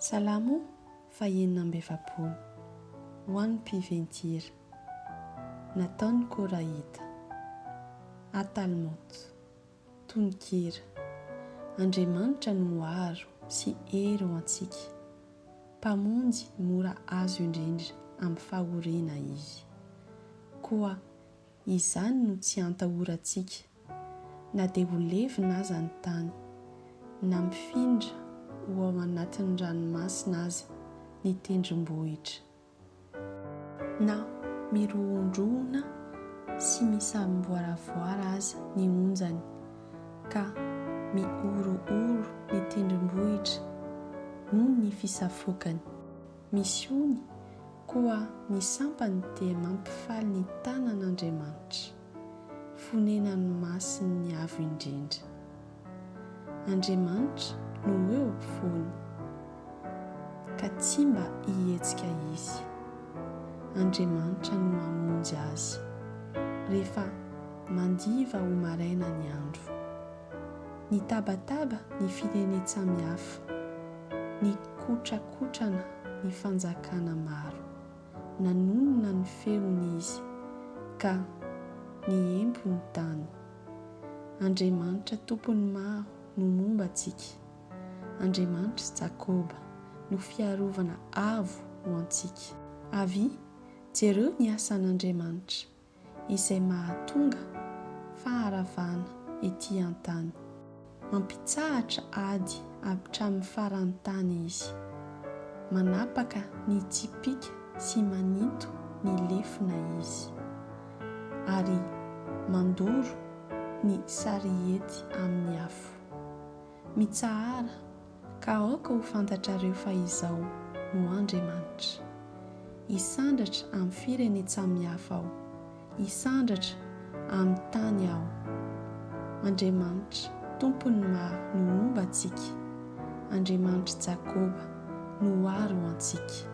Salamo fahenina amby efapolo. Ho an'ny mpiventy-hira. Nataon'ny Korahita. Atalmôt. Tononkira. Andriamanitra no aro sy hery ho antsika, Mpamonjy mora azo indrindra amin'ny fahoriana Izy. Koa Izany no tsy antahorantsika, na dia ho levona aza ny tany, na mifindra ho ao anatin'ny ranomasina aza ny tendrombohitra, na mirohondrohona sy misamboaravoara aza ny onjany, ka mihorohoro ny tendrombohitra noho ny fisafoakany. Misy ony, koa ny sampany dia mampifaly ny tanan' Andriamanitra, fonenan' ny Masin' ny Avo Indrindra. Andriamanitra no eo am-povoany, ka tsy mba hihetsika izy. Andriamanitra no hamonjy azy, rehefa mandiva ho maraina ny andro. Nitabataba ny firenen-tsamihafa, nikotrakotrana ny fanjakana maro, nanonona ny feony izy, ka niempo ny tany. Andriamanitra Tompon'ny maro no momba antsika, Andriamanitr'i Jakoba no fiarovana avo ho antsika. Avia, jereo ny asan'Andriamanitra, izay mahatonga faharavana ety an-tany. Mampitsahatra ady habitramin'ny faran'ny tany izy. Manapaka ny tsipìka sy maninto ny lefona izy. Ary mandoro ny sarihety amin'ny afo. Mitsahara Ka aoka ho fantatrareo fa Izaho no Andriamanitra. Hisandratra amin'ny firenen-tsamihafa Aho, hisandratra amin'ny tany Aho. Andriamanitra, Tompon'ny maro, no homba antsika, Andriamanitr'i Jakoba no ho àry ho antsika.